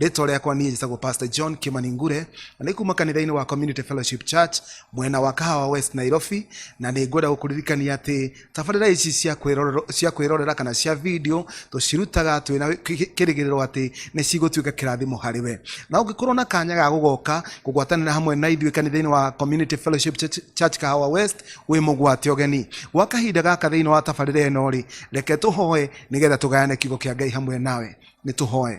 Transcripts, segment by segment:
rĩtwa rĩakwa niĩ njĩtagwo pastor john kimaningure na nĩ kuma kanitha-inĩ wa community fellowship church mwena wa kahawa west nairobi na nĩ ngwenda gũkũririkania atĩ tabarĩra ici cia kwĩrorero- cia kwĩrorera kana cia video tũcirutaga twĩ na kĩ- kĩrĩgĩrĩro atĩ nĩ cigũtuĩka kĩrathimo harĩ we na ũngĩkorwo na kanya ga gũgoka kũgwatanĩra hamwe na ithuĩ kanitha-inĩ wa community fellowship church, church kahawa west wĩ mũgwate ũgeni gwa kahinda gaka thĩinĩ wa tabarĩra ĩno rĩ reke tũhoe nĩgetha tũgayane kiugo kĩa ngai hamwe nawe nĩ tũhoe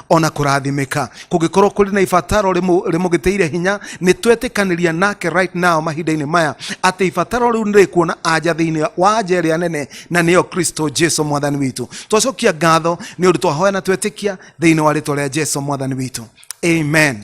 ona kurathimika kungikorwo kuri na ibataro rimu- rimugitiire hinya ni twetikanĩria nake right now mahinda-inĩ maya atĩ ibataro riu nĩrĩkuona anja thĩinĩ wa anja ĩrĩa nene na nĩyo kristo jesu mwathani witũ twacokia ngatho nĩ ũndũ twahoya na twetĩkia thĩinĩ wa rĩtwa rĩa jesu mwathani witũ amen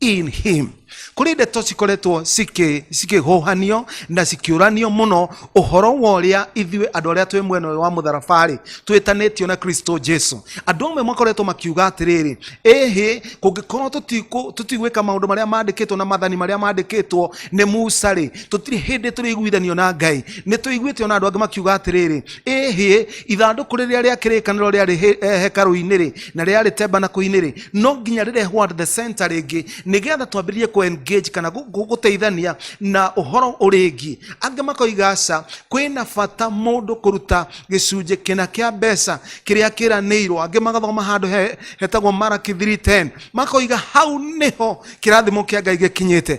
in him kũrĩ ndeto cikoretwo cikĩ- cikĩhũhanio na cikĩũranio mũno ũhoro wa ũrĩa ithuĩ andũ arĩa twĩ mwena ũyũ wa mũtharabarĩ twĩtanĩtio na kristo jesu andũ amwe makoretwo makiuga atĩrĩrĩ ĩhĩ kũngĩkorwo tũtikũ- tũtigwĩka maũndũ marĩa mandĩkĩtwo na mathani marĩa mandĩkĩtwo nĩ musa rĩ tũtirĩ hĩndĩ tũrĩiguithanio na ngai nĩ tũiguĩte ona andũ angĩ makiuga atĩrĩrĩ ĩhĩ ithandũkũ rĩrĩa rĩa kĩrĩkanĩro rĩarĩ he- eh, hekarũ-inĩ rĩ na rĩarĩ tembanaku-inĩ rĩ no nginya rĩrehwo at the center rĩngĩ nĩgetha twambĩrĩrie kũ engage kana gũ- gũ- gũteithania na ũhoro ũrĩngĩ angĩ makoiga aca kwĩna bata mũndũ kũruta gĩcunjĩ kĩna kĩa mbeca kĩrĩa kĩranĩirwo angĩ magathoma handũ he- hetagwo maraki 310 makoiga hau nĩho kĩrathimo kĩa ngai gĩkinyĩte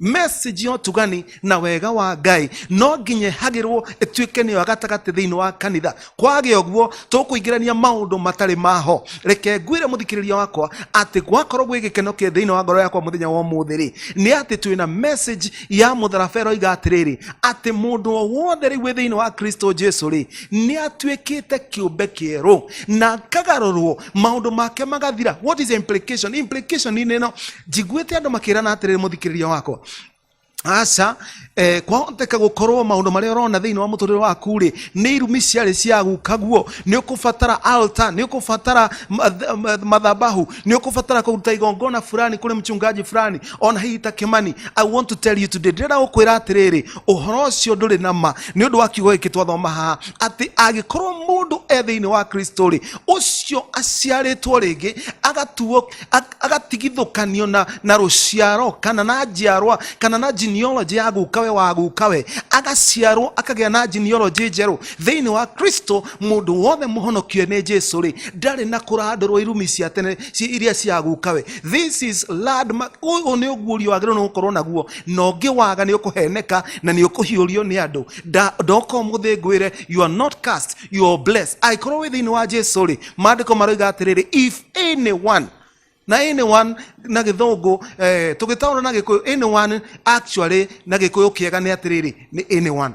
message yo tugani na wega wa ngai no nginye hagirwo ĩtuĩke nĩyo ya gatagatĩ thĩinĩ wa kanitha kwage ũguo tũkũingĩrania maũndũ matarĩ maho reke ngwĩre mũthikĩrĩria wakwa atĩ gwakorwo gwĩ gĩkeno kĩ thĩinĩ wa ngoro yakwa mũthenya wa ũmũthĩ rĩ nĩ atĩ twĩ na message ya mũtharaba ĩroiga atĩrĩrĩ atĩ mũndũ o wothe rĩu wĩ thĩinĩ wa kristo jesu rĩ nĩ atuĩkĩte kĩũmbe kĩerũ na akagarũrwo maundu make magathira what is the implication implication ni neno njiguite andu makirana atiriri muthikiriria wakwa aca eh, kwahoteka gukorwo maundu maria urona thiini wa muturire waku ri ni irumi ciari cia guka guo ni ukubatara altar ni ukubatara math- math- mathabahu ni ukubatara kuruta igongona fulani kuri mchungaji fulani ona hihi ta kimani i want to tell you today ndĩrenda gũkwĩra atĩrĩrĩ ũhoro ũcio ndũrĩ na ma nĩ ũndũ wa kiugo gĩkĩ twathoma haha atĩ angĩkorwo mũndũ e thĩinĩ wa kristo rĩ ũcio aciarĩtwo rĩngĩ agatuo ag- agatigithũkanio na, na rũciaro kana na njiarwa kana na genealogy ya gukawe wa gukawe agaciarwo akagĩa na genealogy njerũ thĩinĩ wa kristo mũndũ wothe mũhonokie nĩ jesu rĩ ndarĩ na kũrandũrwo irumi cia tene ci iria cia gukawe this is landmark uyu ni ugurio wagirwo ni gukorwo naguo na ungiwaga ni ukuheneka na ni ukuhiurio ni andu Da- ndoka umuthi ngwire you are not cast you are blessed aikorwo wi thiini wa jesu ri maandiko maroiga atiriri if anyone na anyone na githungu eh, tugitaura na gikuyu anyone actually na gikuyu kiega ni atiriri ni anyone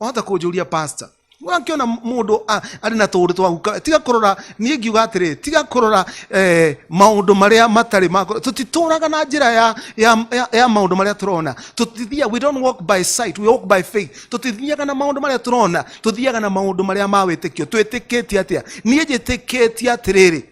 wahota kũnjũria pastor wakiona mũndũ a- arĩ na tũũndũ twa guka tiga kũrora niĩ ngiuga atĩrĩ tiga kũrora eh, maũndũ marĩa matarĩ makũ tũtitũraga na njĩra ya, ya, ya, ya maũndũ marĩa tũrona tũtithia we don't walk by sight we walk by faith tũtithiaga na maũndũ marĩa tũrona tũthiaga na maũndũ marĩa ma wĩtĩkio twĩtĩkĩtie atĩa niĩ njĩtĩkĩtie atĩrĩrĩ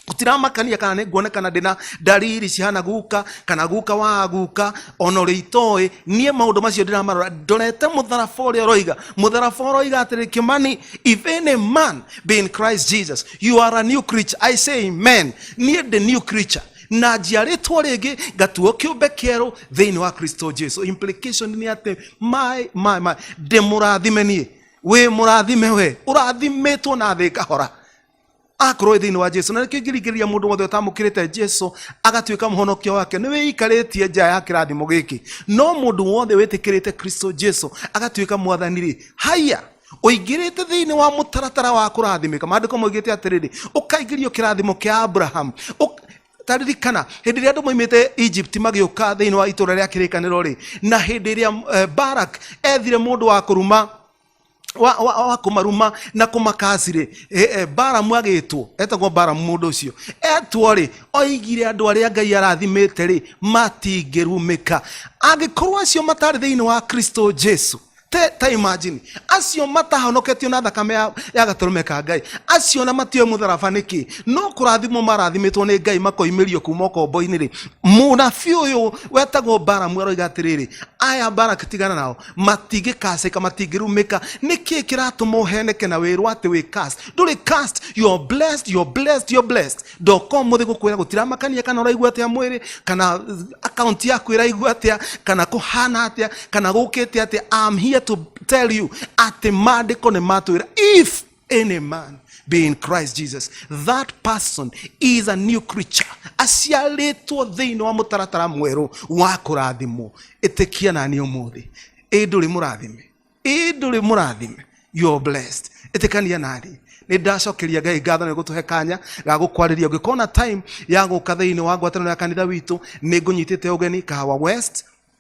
gutiramakania kana nĩnguonekana ndĩna ndariri cihana guka kana guka wa guka ona ũrĩa itoĩ niĩ maũndũ macio ndĩramarora ndorete mũtharaba ũrĩa ũroiga mũtharaba ũroiga atĩrĩ kĩmani if any man be in christ jesus you are a new creature i say amen niĩ ndĩ new creature na njiarĩtwo rĩngĩ ngatuo kĩũmbe kĩerũ thĩinĩ wa kristo jesu implication nĩ atĩ my, my, my, ndĩ mũrathime niĩ wĩ mũrathime we ũrathimĩtwo na thĩ kahora akorwo thĩinĩ wa jesu na nĩkĩo ingĩringĩrĩria mũndũ wothe ũtamũkĩrĩte jesu agatuĩka mũhonokia wake nĩ wĩikarĩtie nja ya kĩrathimo gĩkĩ no mũndũ wothe wĩtĩkĩrĩte kristo jesu agatuĩka mwathani rĩ haiya ũingĩrĩte thĩinĩ wa mũtaratara wa kũrathimĩka maandĩko moigĩte atĩrĩrĩ ũkaingĩrio kĩrathimo kĩa abrahamu Ũk- taririkana hĩndĩ ĩrĩa andũ moimĩte egypt magĩũka thĩinĩ wa itũra rĩa kĩrĩkanĩro rĩ na hĩndĩ ĩrĩa eh, barak ethire mũndũ wa kũruma wa, wa, wa kumaruma na kumakasi rĩ e, e, baramu agĩtwo etagwo baramu mũndũ ũcio etwo rĩ oigire andũ arĩa ngai arathimĩte rĩ matingĩrumĩka angĩkorwo acio matarĩ thĩinĩ wa kristo jesu te ta imagine acio matahonoketio na thakame ya, ya gatũrũme ka ngai acio na matioe mũtharaba nĩkĩ no kũrathimwo marathimĩtwo nĩ ngai makoimĩrio kuma ũkombo-inĩ rĩ mũnabi ũyũ wetagwo baramu aroiga atĩrĩrĩ aya barak tigana nao matingĩkacĩka matingĩrumĩka nĩkĩ kĩratũma ũheneke na wĩrwo atĩ wĩ cast ndũrĩ cast you're blessed you're blessed you're blessed ndoka ũmũthĩ gũkwĩra gũtiramakania kana ũraigua atĩa mwĩrĩ kana account yaku ĩraigua atĩa kana kũhana atĩa kana gũkĩte atĩa I'm here to tell you atĩ maandĩko nĩ matwĩra if any man be in christ jesus that person is a new creature aciarĩtwo thĩinĩ wa mũtaratara mwerũ wa kũrathimwo ĩtĩkia na niĩ ũmũthĩ ĩ ndũrĩ mũrathime ĩ ndũrĩ mũrathime you are blessed ĩtĩkania naniĩ nä ndacokeria ngai ngatho nä gå tå he kanya ga gå kwarä ria å ngä kona time ya gå ka thä inä wa ngwatanä ya kanitha witå nä ngå nyitä te å geni kahawa west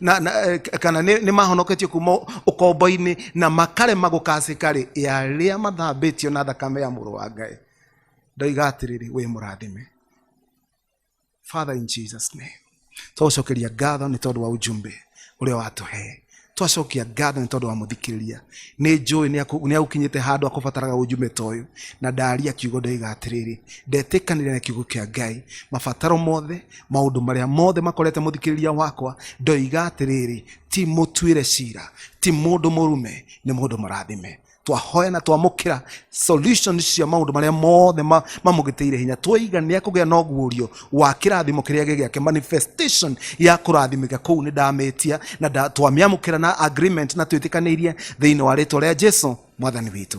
na, na, eh, kana nĩ nĩ mahonoketio kuma ũkombo-inĩ na makarema gũkacĩkarĩ arĩa mathambĩtio na thakame ya mũrũ wa ngai ndoiga atĩrĩrĩ wĩ mũrathime father in jesus name twacokeria ngatho nĩ tondũ wa ujumbe ũrĩa watũhee twacokia ngatho nĩ tondũ wa mũthikĩrĩria nĩ njũĩ nĩ agũkinyĩte handũ akũbataraga ũnjume ta ũyũ na ndaria kiugo ndoiga atĩrĩrĩ ndetĩkanĩria na kiugo kĩa ngai mabataro mothe maũndũ marĩa mothe makorete mũthikĩrĩria wakwa ndoiga atĩrĩrĩ ti mũtuĩre cira ti mũndũ mũrume nĩ mũndũ mũrathime twahoya na twamũkĩra solution cia maũndũ marĩa mothe ma- mamũgĩtĩire hinya twoiga nĩ ekũgĩa na ũguũrio wa kĩrathimo kĩrĩa gĩ gĩake manifestation ya kũrathimĩka kũu nĩ ndamĩtia na nda- twamĩamũkĩra na agreement na twĩtĩkanĩirie thĩinĩ wa rĩtwa rĩa jesu mwathani witũ